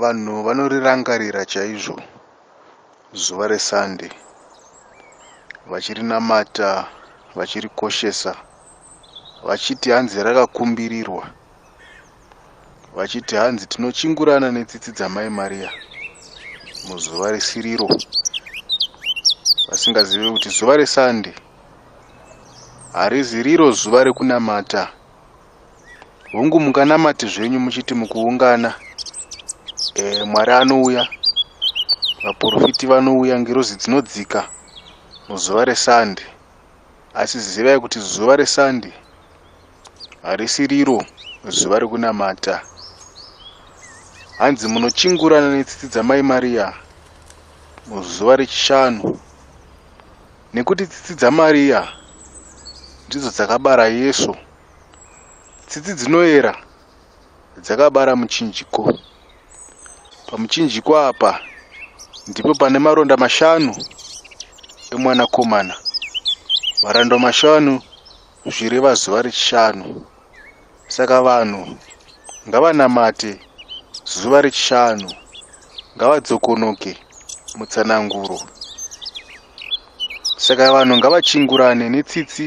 Vanhu vanorirangarira chaizvo zuva reSunday vachirinamata vachirikoshesa vachiti hanzi rakakumbirirwa vachiti hanzi tinochingurana netsitsi dzamai Maria muzuva risiriro vasingazive kuti zuva reSunday hariziriro zuva rekunamata hungu munganamati zvenyu muchiti mukuungana e, mwari anouya vaprofiti vanouya ngirozi dzinodzika muzuva resande asi zivai kuti zuva resande harisi riro zuva rekunamata hanzi munochingurana netsitsi dzamai mariya muzuva rechishanu nekuti tsitsi dzamariya ndidzo dzakabara yesu Tsitsi dzinoera dzakabara muchinjiko. Pamuchinjiko apa ndipo pane maronda mashanu emwanakomana. Maronda mashanu zvireva zuva rechishanu. Saka vanhu ngavanamate zuva rechishanu, ngavadzokonoke mutsananguro. Saka vanhu ngavachingurane netsitsi.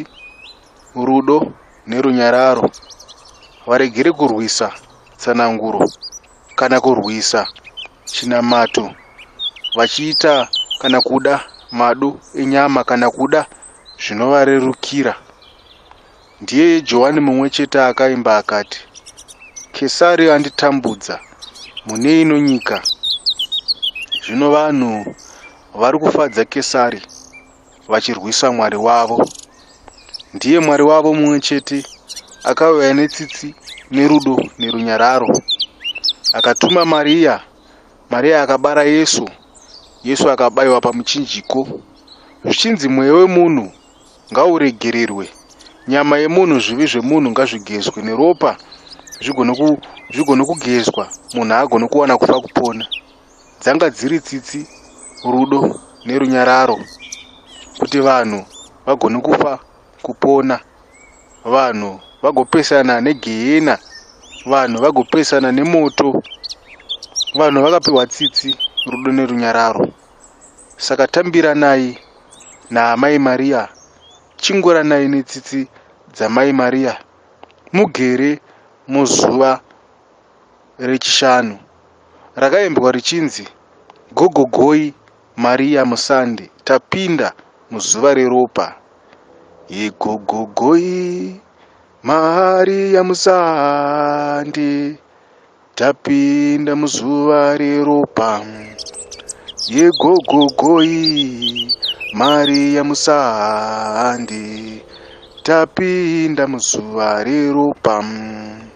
rudo nerunyararo varegere kurwisa tsananguro kana kurwisa chinamato vachiita kana kuda madu enyama kana kuda zvinovarerukira ndiye johani mumwe chete akaimba akati kesari anditambudza mune ino nyika zvino vanhu vari kufadza kesari vachirwisa mwari wavo ndiye mwari wavo mumwe chete akauya netsitsi nerudo nerunyararo akatuma mariya mariya akabara yesu yesu akabayiwa pamuchinjiko zvichinzi mweya wemunhu ngauregererwe nyama yemunhu zvivi zvemunhu ngazvigezwe neropa zvigone kugezwa munhu agone kuwana kufa kupona dzanga dziri tsitsi rudo nerunyararo kuti vanhu vagone kufa kupona vanhu vagopesana negehena vanhu vagopesana nemoto vanhu vakapiwa tsitsi rudo nerunyararo saka tambiranai naamai mariya chinguranai netsitsi dzamai mariya mugere muzuva reChishanu rakaimbwa richinzi Gogo Goi Maria Musande tapinda muzuva reropa yeGogo Goi Maria Musande tapinda muzuva reropa yeGogo Goi Maria Musande tapinda muzuva reropa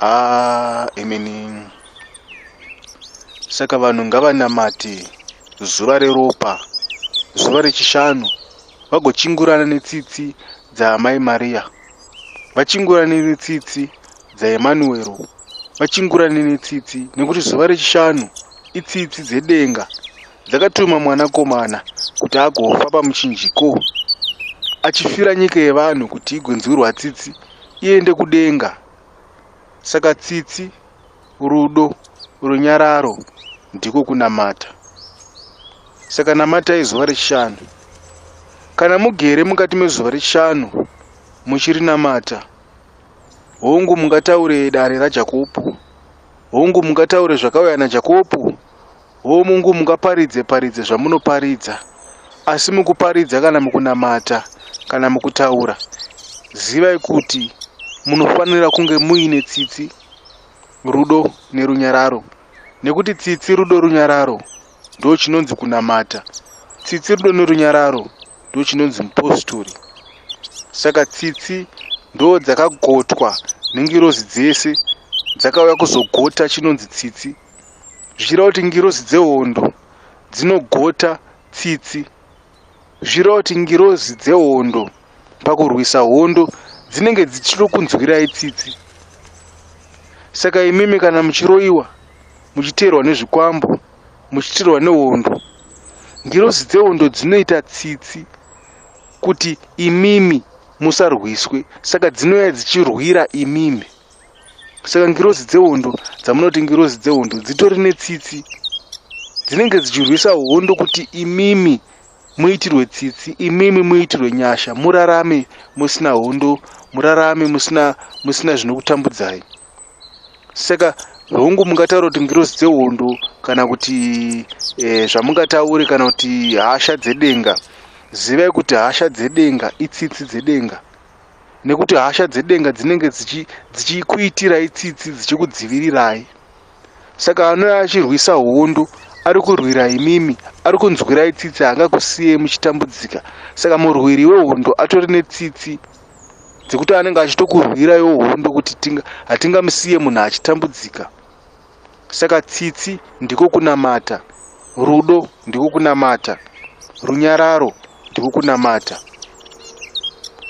Ah, imini saka vanhu ngavanamate zuva reropa zuva rechishanu vagochingurana netsitsi dzaamai mariya vachingurane netsitsi dzaemanuwero vachingurane netsitsi nekuti zuva rechishanu itsitsi dzedenga dzakatuma mwanakomana kuti agofa pamuchinjiko achifira nyika yevanhu kuti igonzwirwa tsitsi iende kudenga. Saka tsitsi, rudo, runyararo ndiko kunamata. Saka namatai zuva rechishanu. Kana mugere mukati mezuva rechishanu muchirinamata, hongu mungataure dare raJakopo, hongu mungataure zvakauya naJakopo, Hoo mungu mungaparidze paridze zvamunoparidza asi mukuparidza kana mukunamata kana mukutaura zivai kuti munofanira kunge muine tsitsi rudo nerunyararo nekuti tsitsi rudo runyararo ndo chinonzi kunamata tsitsi rudo nerunyararo ndo chinonzi mupostori saka tsitsi ndo dzakagotwa nengirozi dzese dzakauya kuzogota chinonzi tsitsi zvichireva kuti ngirozi dzehondo dzinogota tsitsi zvichireva kuti ngirozi dzehondo pakurwisa hondo dzinenge dzichiri kunzwirai tsitsi saka imimi kana muchiroyiwa muchiteerwa nezvikwambo muchiteerwa nehondo ngirozi dzehondo dzinoita tsitsi kuti imimi musarwiswe saka dzinouya dzichirwira imimi saka ngirozi dzehondo dzamunoti ngirozi dzehondo dzitori netsitsi dzinenge dzichirwisa hondo kuti imimi muitirwe tsitsi imimi muitirwe nyasha murarame musina hondo murarame musina musina zvinokutambudzai saka hongu mungataura kuti ngirozi dzehondo kana kuti eh, zvamungataure kana kuti hasha dzedenga zivai kuti hasha dzedenga itsitsi dzedenga nekuti hasha dzedenga dzinenge dzichikuitirai tsitsi dzichikudzivirirai saka anouya achirwisa hondo ari kurwira imimi ari kunzwirai tsitsi haangakusiyei muchitambudzika saka murwiri wehondo atori netsitsi dzekuti anenge achitokurwiraiwo hondo kuti hatingamusiye munhu achitambudzika Saka tsitsi ndiko kunamata, rudo ndiko kunamata, runyararo ndiko kunamata.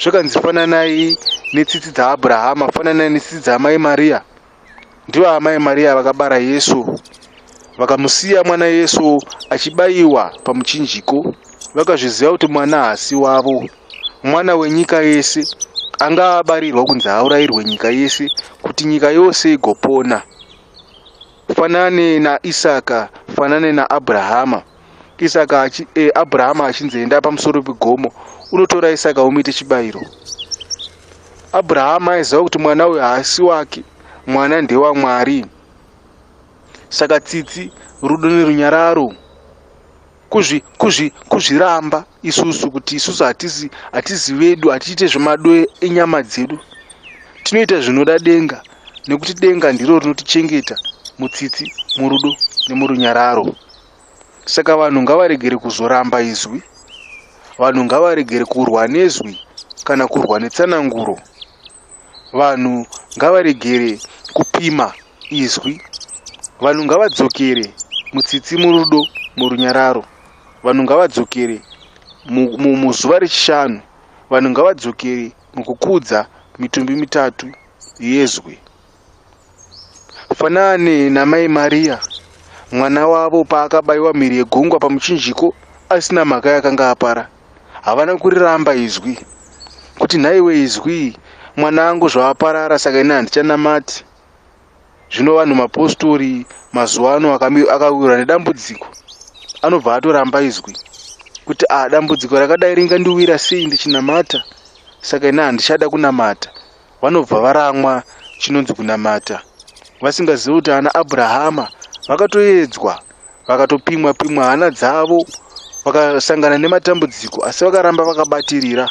Zvakanzi fananai netsitsi dzaAbrahama, fananai netsitsi dzaamai Mariya. Ndivo amai Mariya vakabara Yesu, vakamusiya mwana Yesu achibayiwa pamuchinjiko, vakazviziva kuti mwana haasi wavo. mwana wenyika yese anga abarirwa kunzi haurairwe nyika yese kuti nyika yose igopona fanane naisaka fanane naabrahama isaka achi, eh, abrahama achinzi enda pamusoro pegomo unotora isaka umuite chibayiro abrahama aiziva kuti mwana uyo haasi wake mwana ndewamwari saka tsitsi rudo nerunyararo kuzvi kuzvi kuzviramba isusu kuti isusu hatisi hatisi vedu hatiite zvemado enyama dzedu tinoita zvinoda denga nekuti denga ndiro rinotichengeta mutsitsi murudo nemurunyararo saka vanhu ngavaregere kuzoramba izwi vanhu ngavaregere kurwa nezwi kana kurwa netsananguro Vanhu ngavaregere kupima izwi. Vanhu ngavadzokere mutsitsi murudo murunyararo. Vanhu ngavadzokere muzuva rechishanu. Vanhu ngavadzokere mukukudza mitumbi mitatu yezwi. Fanani naMai Maria, mwana wavo paakabaiwa mhiri yegungwa pamuchinjiko asina mhaka yakanga apara, havana kuriramba izwi, kuti nhaiwe izwi, mwana angu zvawaparara saka ini handichanamati. Zvino vanhu mapostori mazuva ano akawirwa nedambudziko anobva atoramba izwi kuti a ah, dambudziko rakadai ringandiwira sei ndichinamata saka ini handichada kunamata vanobva varamwa chinonzi kunamata vasingazivi kuti ana abrahama vakatoedzwa vakatopimwa pimwa hana dzavo vakasangana nematambudziko asi vakaramba vakabatirira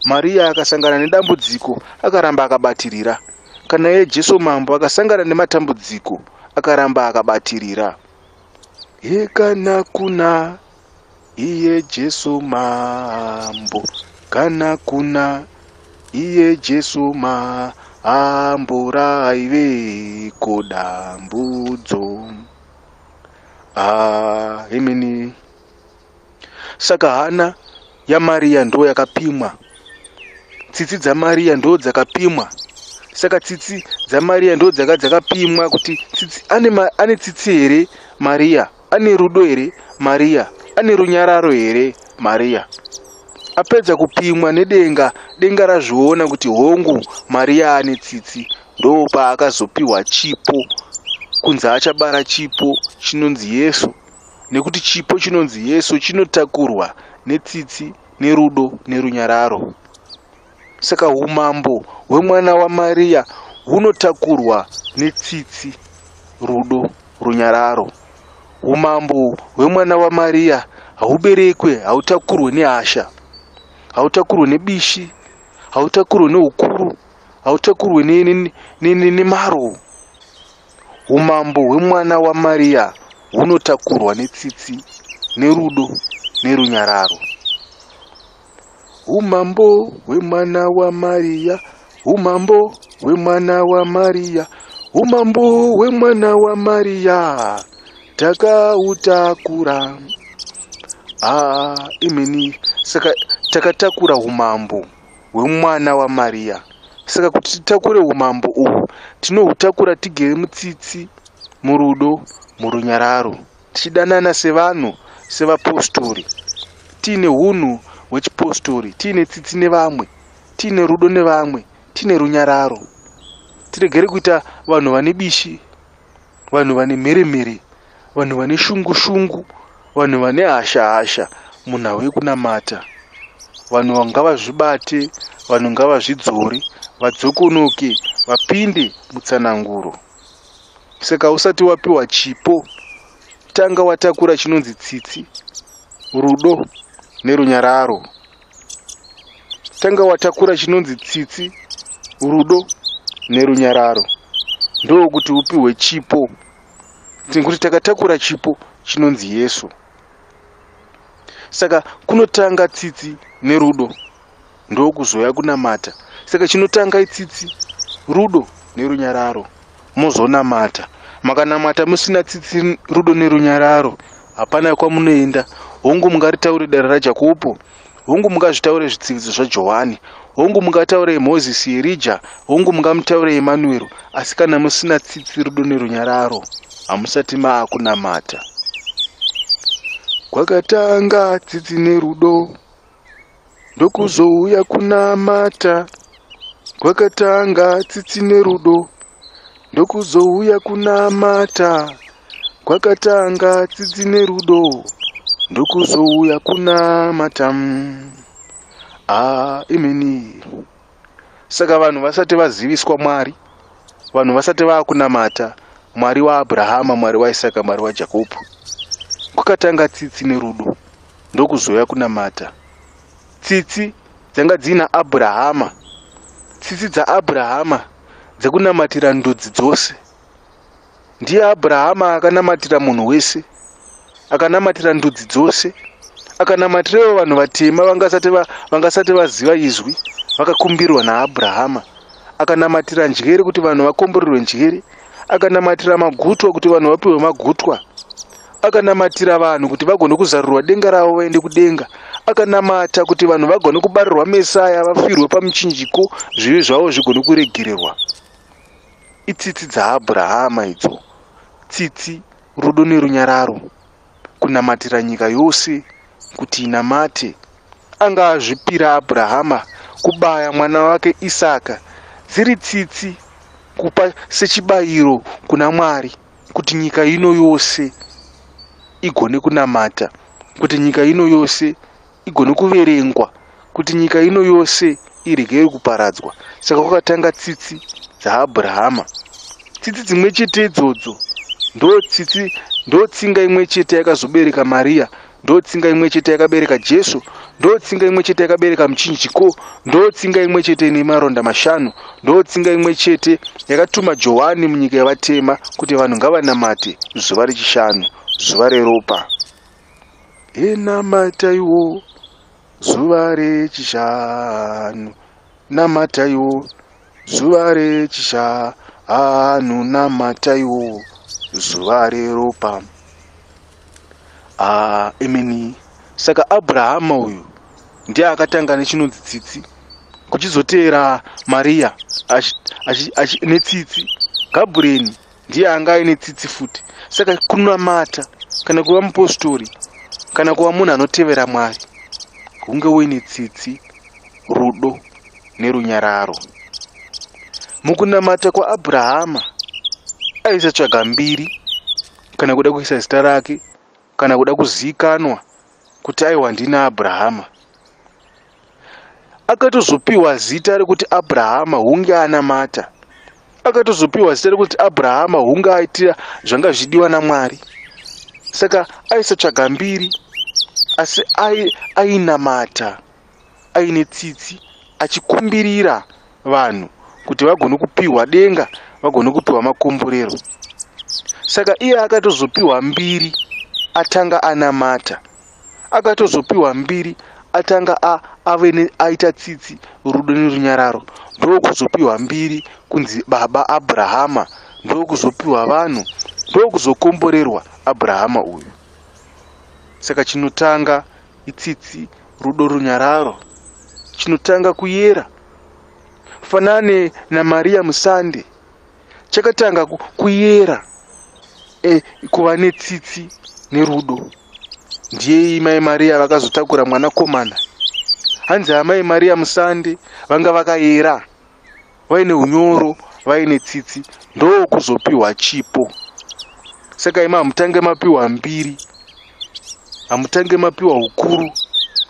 mariya akasangana nedambudziko akaramba akabatirira kana iye jesu mambo akasangana nematambudziko akaramba akabatirira hekana kuna Iye Jesu mambo kana kuna iye Jesu mambo raive kodambudzo ah, imini saka hana yamariya ndo yakapimwa tsitsi dzamariya ndo dzakapimwa saka tsitsi dzamariya ndo dzaka dzakapimwa kuti tsitsi ane, ma, ane tsitsi here mariya ane rudo here mariya ane runyararo here mariya apedza kupimwa nedenga denga razviona kuti hongu mariya ane tsitsi ndoo paakazopiwa chipo kunzi achabara chipo chinonzi yesu nekuti chipo chinonzi yesu chinotakurwa netsitsi nerudo nerunyararo Saka umambo hwemwana waMariya hunotakurwa netsitsi, rudo, runyararo. Umambo hwemwana waMariya hauberekwe, hautakurwe nehasha, hautakurwe nebishi, hautakurwe neukuru, hautakurwe nemaro. Umambo hwemwana waMariya hunotakurwa netsitsi, nerudo, nerunyararo. Umambo hwemwana waMariya, umambo hwemwana waMariya, umambo hwemwana waMariya, takautakura. Ah, imini, saka takatakura umambo hwemwana waMariya. Saka kuti titakure umambo uhu, tinohutakura tigere mutsitsi, murudo, murunyararo. tichidanana sevanhu sevapostori tiine unhu hwechipostori tiine tsitsi nevamwe tiine rudo nevamwe tiine runyararo tiregere kuita vanhu vane bishi vanhu vane mheremhere vanhu vane shungu shungu vanhu vane hasha hasha munhau yekunamata vanhu ngavazvibate vanhu ngavazvidzore vadzokonoke vapinde mutsananguro saka usati wapiwa chipo tanga watakura chinonzi tsitsi rudo nerunyararo tanga watakura chinonzi tsitsi rudo nerunyararo ndokuti upiwe chipo tinkuti takatakura chipo chinonzi yesu saka kunotanga tsitsi nerudo ndokuzouya kunamata saka chinotanga itsitsi rudo nerunyararo mozonamata makanamata musina tsitsi rudo nerunyararo hapana kwamunoenda hongu mungaritaure dare rajakopo hongu mungazvitaure zvitsividzo zvajohani hongu mungataure yemozisi yerija hongu mungamutaure yemanuero asi kana musina tsitsi rudo nerunyararo hamusati maakunamata kwakatanga tsitsi nerudo ndokuzouya kunamata kwakatanga tsitsi nerudo ndokuzouya kunamata kwakatanga tsitsi nerudo ndokuzouya kunamata mm. ah, imini saka vanhu vasati vaziviswa mwari vanhu vasati vakunamata mwari waabrahama mwari waisaka mwari wajakobho kwakatanga tsitsi nerudo ndokuzouya kunamata tsitsi dzanga dziina abrahama tsitsi dzaabrahama dzekunamatira ndudzi dzose Ndiye Abrahama akanamatira munhu wese, akanamatira ndudzi dzose, akanamatirewo vanhu vatema vangasati va, vangasati vaziva izwi vakakumbirwa naAbrahama, akanamatira njere kuti vanhu vakomborerwe njere, akanamatira magutwa kuti vanhu vapiwe magutwa, akanamatira vanhu kuti vagone kuzarurwa denga ravo vaende kudenga, akanamata kuti vanhu vagone kubarirwa Mesaya vafirwe pamuchinjiko zvivi zvavo zvigone kuregererwa. Itsitsi dzaAbrahama idzo, tsitsi, rudo nerunyararo, kunamatira nyika yose kuti inamate. Anga azvipira Abrahama kubaya mwana wake Isaka dziri tsitsi kupa sechibayiro kuna Mwari kuti nyika ino yose igone kunamata, kuti nyika ino yose igone kuverengwa kuti nyika ino yose iregere kuparadzwa saka kwakatanga tsitsi dzaabrahama tsitsi dzimwe chete idzodzo ndotsitsi ndotsinga imwe chete yakazobereka mariya ndotsinga imwe chete yakabereka jesu ndotsinga imwe chete yakabereka muchinjiko ndotsinga imwe chete ine maronda mashanu ndotsinga imwe chete yakatuma johani munyika yavatema kuti vanhu ngavanamate zuva rechishanu zuva reropa Enamataiwo zuva rechishanu, namataiwo zuva rechishanu, namataiwo zuva reropa. Ah, imini saka Abrahama uyu ndiye akatanga nechinonzi tsitsi kuchizoteera Maria netsitsi Gabriel ndiye anga aine tsitsi futi saka kunamata kana kuva mupostori kana kuva munhu anotevera mwari hunge uine tsitsi rudo nerunyararo mukunamata kwaabrahama aisatsvaga mbiri kana kuda kuisa zita rake kana kuda kuzivikanwa kuti aiwa ndini abrahama akatozopiwa zita rekuti abrahama hunge anamata akatozopiwa zita rekuti abrahama hunge aitira zvanga zvichidiwa namwari saka aisatsvaga mbiri asi ainamata ai aine tsitsi achikumbirira vanhu kuti vagone kupiwa denga vagone kupiwa makomborero saka iye akatozopiwa mbiri atanga anamata akatozopiwa mbiri atanga ave aita tsitsi rudo nerunyararo ndokuzopiwa mbiri kunzi baba abrahama ndokuzopiwa vanhu ndokuzokomborerwa abrahama uyu saka chinotanga itsitsi rudo runyararo chinotanga kuyera fanane namariya musande chakatanga kuyera e, kuva netsitsi nerudo ndiyei mai mariya vakazotakura mwanakomana hanzi amai mariya musande vanga vakayera vaine unyoro vaine tsitsi ndokuzopiwa chipo saka ima hamutange mapiwa mbiri hamutange mapiwa ukuru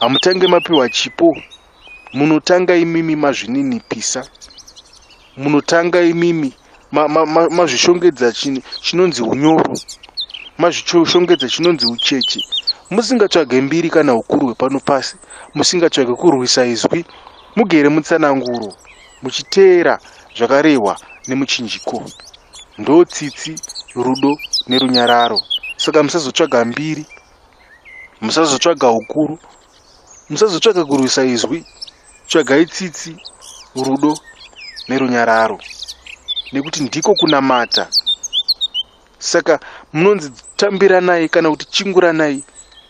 hamutange mapiwa chipo munotanga imimi mazvininipisa munotanga imimi mazvishongedza ma, ma, chini chinonzi unyoro mazvishongedza chinonzi ucheche musingatsvage mbiri kana ukuru hwepano pasi musingatsvage kurwisa izwi Mugere mutsananguro muchiteera zvakarehwa nemuchinjiko. Ndo tsitsi, rudo nerunyararo. Saka musazotsvaga mbiri, musazotsvaga ukuru, musazotsvaga kurwisa izwi. Tsvagai tsitsi, rudo nerunyararo. Nekuti ndiko kunamata saka munonzi tambiranai kana kuti chinguranai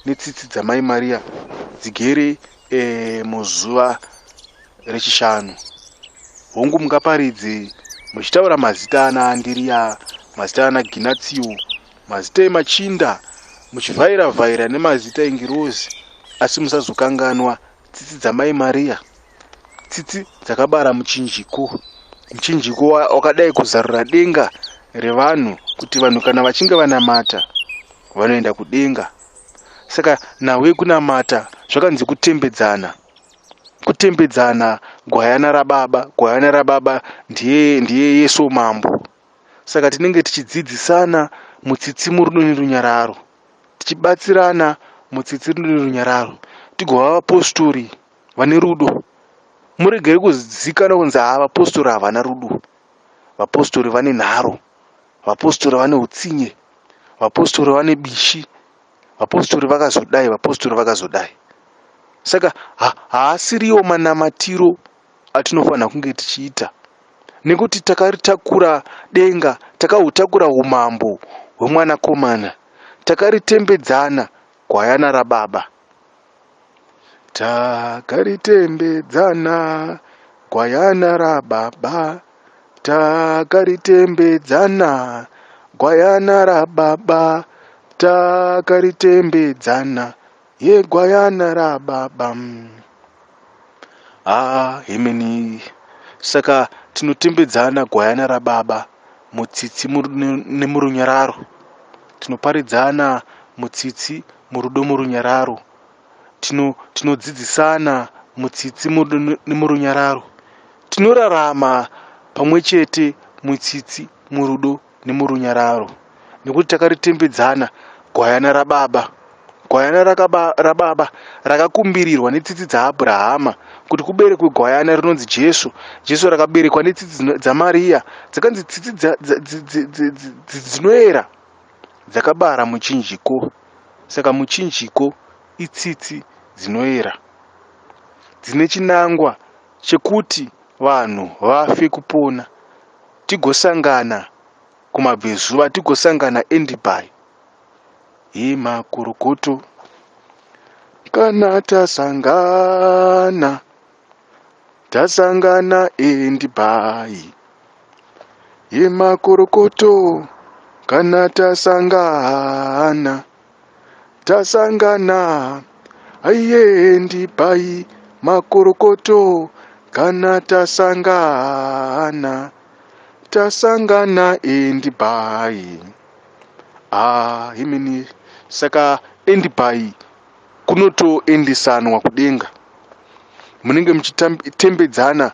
netsitsi dzamai mariya dzigere e, muzuva rechishanu hongu mungaparidze muchitaura mazita ana andiriya mazita ana ginatsio mazita emachinda muchivhaira vhaira nemazita engirozi asi musazokanganwa tsitsi dzamai mariya tsitsi dzakabara muchinjiko muchinjiko wakadai kuzarura denga revanhu kuti vanhu kana vachinge vanamata vanoenda kudenga saka nhau yekunamata zvakanzi kutembedzana kutembedzana gwayana rababa gwayana rababa ndiye ndiye yesu mambo saka tinenge tichidzidzisana mutsitsi murudo nerunyararo tichibatsirana mutsitsi rudo nerunyararo tigova vapostori vane rudo muregere kuzikana kunzi haa vapostori havana rudo vapostori vane nharo vapostori vane utsinye vapostori vane bishi vapostori vakazodai vapostori vakazodai saka haasiriwo ha, manamatiro atinofanira kunge tichiita nekuti takaritakura denga takahutakura umambo hwemwanakomana takaritembedzana gwayana rababa Takaritembedzana gwayana rababa Takaritembedzana gwayana rababa Takaritembedzana yegwayana rababa Ah hemeni saka tinotembedzana gwayana rababa mutsitsi nemurunyararo tinoparidzana mutsitsi murudo murunyararo tino tinodzidzisana mutsitsi murudo ne- nemurunyararo tinorarama pamwe chete mutsitsi murudo nemurunyararo nekuti takaritembedzana gwayana rababa gwayana rakaba, rababa rakakumbirirwa netsitsi dzaabrahama kuti kuberekwe gwayana rinonzi jesu jesu rakaberekwa netsitsi dzino- dzamariya dzikanzi tsitsi dza- dza- dzi- dzi- dzi- dzi- dzi- dzinoera dzakabara muchinjiko. Saka muchinjiko itsitsi dzinoera dzine chinangwa chekuti vanhu vafe kupona tigosangana kumabvezuva tigosangana endibai hii makorokoto kana tasangana Tasangana and bhayi yemakorokoto kana tasangana tasangana aiye and bhayi makorokoto kana tasangana tasangana and bhayi ah himini saka and bhayi kunotoendesanwa kudenga munenge muchitembedzana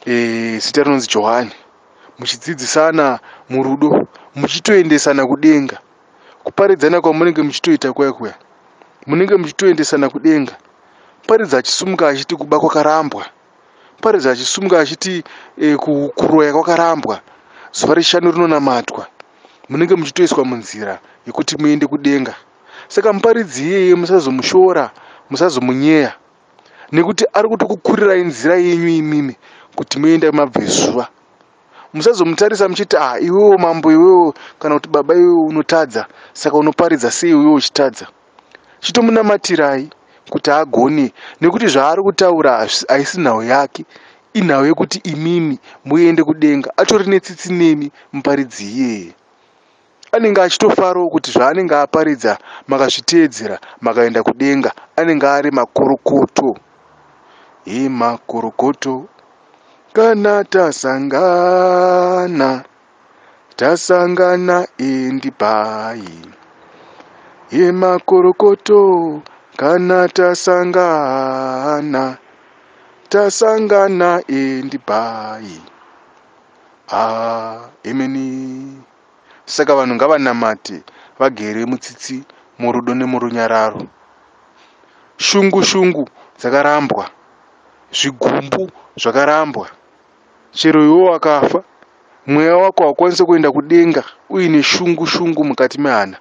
eh, zita e, rinonzi johani muchidzidzisana murudo muchitoendesana kudenga kuparidzana kwamunenge muchitoita kuya kuya munenge muchitoendesana kudenga paridza achisumuka achiti kuba kwakarambwa paridza achisumuka achiti e, kuroya kwakarambwa zuva rechishanu rinonamatwa munenge muchitoiswa munzira yekuti muende kudenga saka muparidzi iyeye musazomushora musazomunyeya nekuti ari kutokukurirai nzira yenyu imimi kuti muenda mabvezuva musazomutarisa muchiti ah iwewo mambo iwewo kana kuti baba iwewo unotadza saka unoparidza sei iwewo uchitadza chitomunamatirai kuti agone nekuti zvaari kutaura haisi nhau yake inhau yekuti imimi muende kudenga atori netsitsi nemi muparidzi iyeye Anenge achitofarawo kuti zvaanenge aparidza makazviteedzera makaenda kudenga anenge ari makorokoto. He makorokoto kana tasangana tasangana endi bhayi. He makorokoto kana tasangana tasangana endi bhayi. Ah, emeni. Saka vanhu ngavanamate vagere mutsitsi, murudo nemurunyararo. Shungu shungu dzakarambwa, zvigumbu zvakarambwa. Chero iwe wakafa, mweya wako haukwanise kuenda kudenga uine shungu shungu mukati mehana.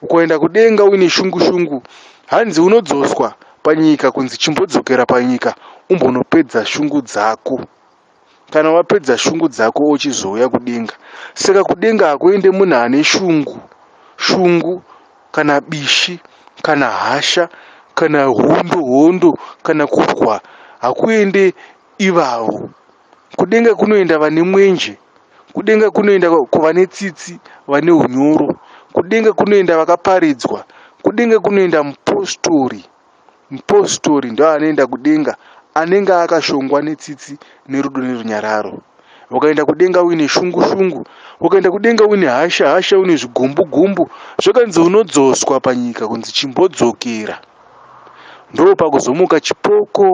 Ukaenda kudenga uine shungu shungu, hanzi unodzoswa panyika kunzi chimbodzokera panyika umbonopedza shungu dzako. kana wapedza shungu dzako uchizouya kudenga saka kudenga hakuende munhu ane shungu shungu kana bishi kana hasha kana hondo hondo kana kurwa hakuende ivavo kudenga kunoenda vane mwenje kudenga kunoenda kuvane tsitsi vane unyoro kudenga kunoenda vakaparidzwa kudenga kunoenda mupostori Mupostori ndoanoenda kudenga anenge akashongwa netsitsi nerudo nerunyararo. Ukaenda kudenga uine shungu shungu, ukaenda kudenga uine hasha hasha, uine zvigumbu gumbu, zvakanzi unodzoswa panyika kunzi chimbodzokera. Ndopakuzomuka chipoko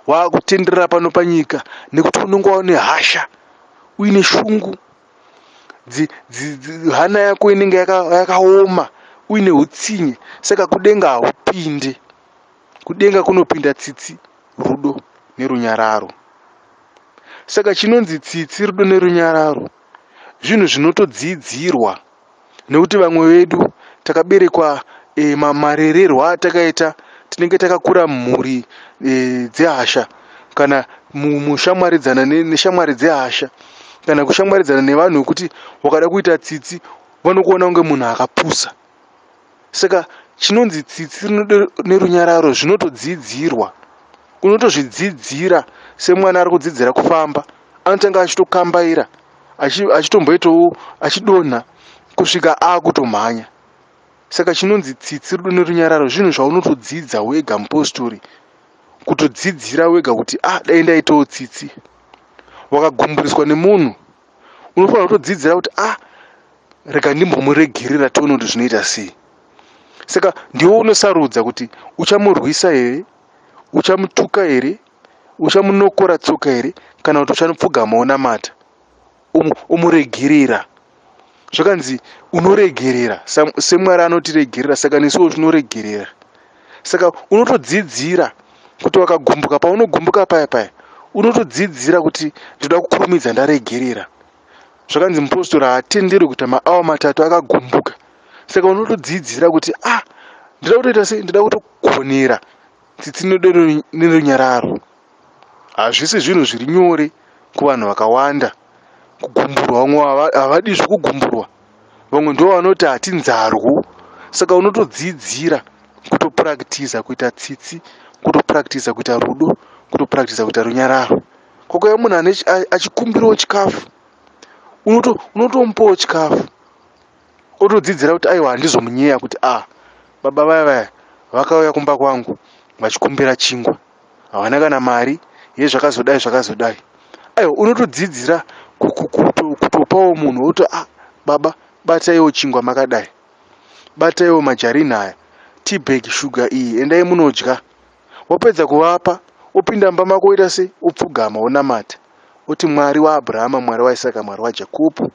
wakutenderera pano panyika nekuti unenge waune hasha, uine shungu. hana yako inenge yakaoma uine utsinye saka kudenga haupinde kudenga kunopinda tsitsi rudo nerunyararo saka chinonzi tsitsi rudo nerunyararo zvinhu zvinotodziidzirwa nekuti vamwe vedu takaberekwa e, ma, marererwa atakaita tinenge takakura mhuri e, dzehasha kana mushamwaridzana neshamwari dzehasha kana kushamwaridzana nevanhu vekuti wakada kuita tsitsi vanokuona kunge munhu akapusa saka chinonzi tsitsi rinodo nerunyararo zvinotodzidzirwa unotozvidzidzira semwana ari kudzidzira kufamba anotanga achitokambaira achitomboitawo achidonha kusvika akutomhanya saka chinonzi tsitsi rudo nerunyararo zvinhu zvaunotodzidza wega mupostori kutodzidzira wega kuti ah dai ndaitawo tsitsi wakagumburiswa nemunhu unofanira kutodzidzira kuti ah rega ndimbomuregerera tione kuti zvinoita sei saka ndiwo unosarudza kuti uchamurwisa here uchamutuka here uchamunokora tsoka here kana kuti uchanopfugama unamata umuregerera zvakanzi unoregerera semwari anotiregerera saka nesuwo tinoregerera saka unotodzidzira kuti wakagumbuka paunogumbuka paya paya unotodzidzira kuti ndoda kukurumidza ndaregerera zvakanzi mupostori haatenderwi kuita maawa matatu akagumbuka saka unotodzidzira kuti ah ndoda kutoita sei ndoda kutogonera tsitsi nerunyararo Hazvisi zvinhu zviri nyore kuvanhu vakawanda kugumburwa. Vamwe havadi zvekugumburwa, vamwe ndo vanoti hatinzarwu. Saka unotodzidzira kutopurakitiza kuita tsitsi, kutopurakitiza kuita rudo, kutopurakitiza kuita runyararo. Kwakuya munhu achikumbirawo chikafu, unotomupawo chikafu, otodzidzira kuti aiwa handizomunyeya kuti a ah, baba vaya vaya vakauya kumba kwangu vachikumbira chingwa. havana kana mari ye zvakazodai zvakazodai aiwa unotodzidzira kutopawo munhu woto a ah, baba bataiwo chingwa makadai bataiwo majarini aya tibag shuga iyi endai munodya wapedza kuvapa opinda mumba mako woita se opfugama wonamata oti mwari waabrahama mwari waisaka mwari wajakobo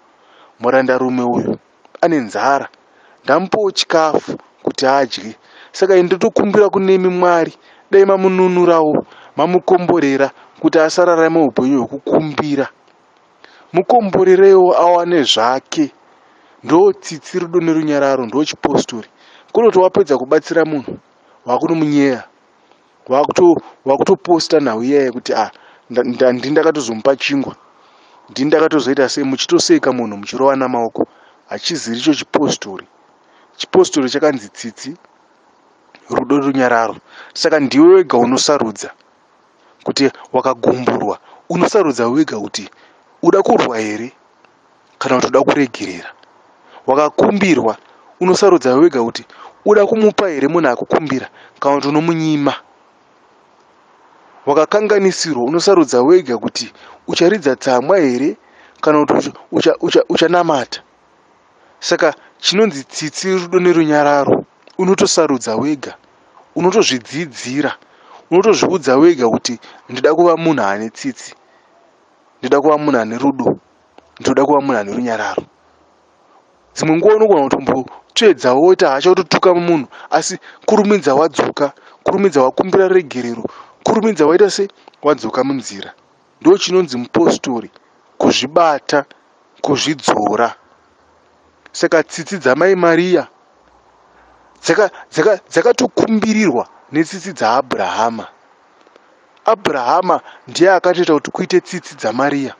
murandarume uyu ane nzara ndamupawo chikafu kuti adye saka ini ndotokumbira kunemi mwari dai mamununurawo mamukomborera kuti asararame upenyu hwekukumbira mukomborerewo awane zvake ndo tsitsi rudo nerunyararo ndo chipostori kunoti wapedza kubatsira munhu wakunomunyeya wakutoposta nhau iyaye kuti ah ndini ndakatozomupa chingwa ndini ndakatozoita sei muchitoseka munhu muchirova namaoko hachiziri icho chipostori chipostori chakanzi tsitsi rudo runyararo saka ndiwe wega unosarudza kuti wakagumburwa unosarudza wega kuti uda kurwa here kana kuti uda kuregerera wakakumbirwa unosarudza wega kuti uda kumupa here munhu akukumbira kana kuti unomunyima wakakanganisirwa unosarudza wega kuti ucharidza tsamwa here kana kuti uchanamata ucha, ucha saka chinonzi tsitsi rudo nerunyararo unotosarudza wega unotozvidzidzira unotozviudza wega kuti ndida kuva munhu ane tsitsi ndida kuva munhu ane rudo ndinoda kuva munhu ane runyararo dzimwe nguva unogona kutombotsvedza woita hasha wototuka munhu asi kurumidza wadzoka kurumidza wakumbira regerero kurumidza waita se wadzoka munzira ndo chinonzi mupostori kuzvibata kuzvidzora saka tsitsi dzamai mariya dzakatokumbirirwa dzaka, dzaka netsitsi dzaabrahama Abrahama ndiye akatoita kuti kuite tsitsi dzaMaria.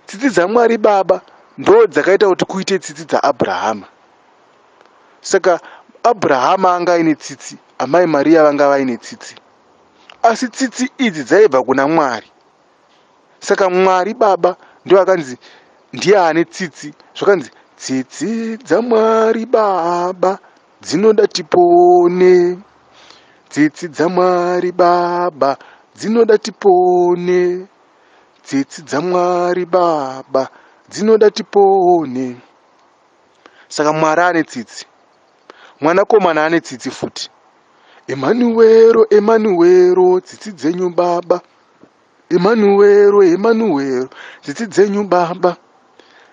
Tsitsi dzaMwari Baba ndo dzakaita kuti kuite tsitsi dzaAbrahama. Saka Abrahama anga aine tsitsi, Amai Maria vanga vaine tsitsi. Asi tsitsi idzi dzaibva kuna Mwari. Saka Mwari Baba ndo akanzi ndiye ane tsitsi, zvakanzi tsitsi dzaMwari Baba. dzinoda tipone tsitsi dzamwari baba dzinoda tipone tsitsi dzamwari baba dzinoda tipone saka mwari ane tsitsi mwanakomana ane tsitsi futi emanuwero emanuwero tsitsi dzenyu baba Emanuwero, Emanuwero, tsitsi dzenyu baba.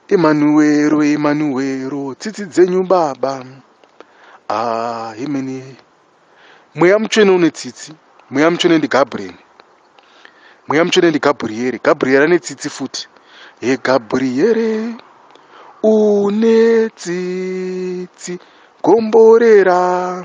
Emanuwero, Emanuwero, tsitsi dzenyu baba. Ah, imene. Mweya mutsvene une tsitsi. Mweya mutsvene ndi Gabriel. Mweya mutsvene ndi Gabriel. Gabriel ane tsitsi futi. He Gabriel, une tsitsi gomborera.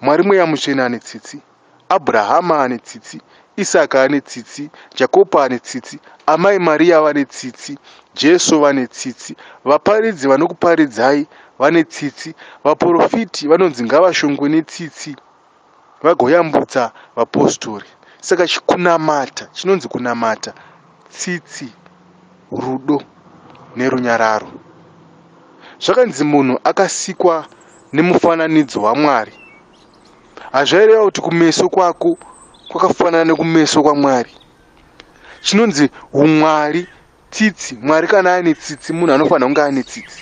Mwari mweya mutsvene ane tsitsi. Abrahama ane tsitsi. Isaka ane tsitsi. Jakopo ane tsitsi. Amai Maria vane tsitsi. Jesu vane tsitsi. Vaparidzi vanokuparidzai vane tsitsi. Vaporofiti vanonzi ngavashongwe netsitsi vagoyambutsa vapostori. Saka chikunamata chinonzi kunamata. tsitsi, rudo nerunyararo. Zvakanzi munhu akasikwa nemufananidzo waMwari. Hazvaireva kuti kumeso kwako kwakafanana nekumeso kwaMwari. Chinonzi umwari tsitsi. Mwari kana ane tsitsi munhu anofanira kunge ane tsitsi.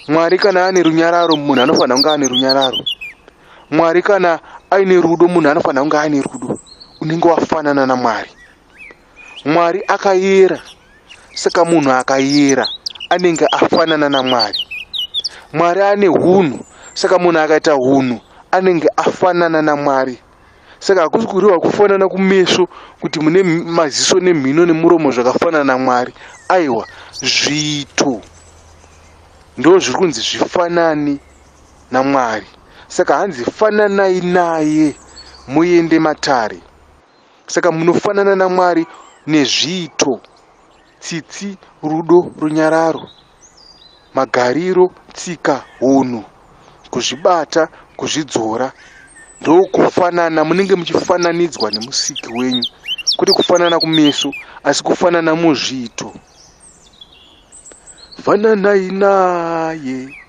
Mwari kana ane runyararo munhu anofanira kunge ane runyararo. Mwari kana aine rudo munhu anofanira kunge aine rudo. Unenge wafanana naMwari. mwari akayera saka munhu akayera anenge afanana namwari mwari ane hunhu saka munhu akaita hunhu anenge afanana namwari saka hakusi kureva kufanana kumeso kuti mune maziso nemhino nemuromo zvakafanana namwari aiwa zviito ndo zviri kunzi zvifanani namwari saka hanzi fananai naye muende matare Saka munofanana naMwari nezviito, tsitsi, rudo, runyararo, magariro, tsika, hunhu, kuzvibata, kuzvidzora. Ndokufanana, munenge muchifananidzwa nemusiki wenyu, kwete kufanana kumeso, asi kufanana muzviito. Fananai naye.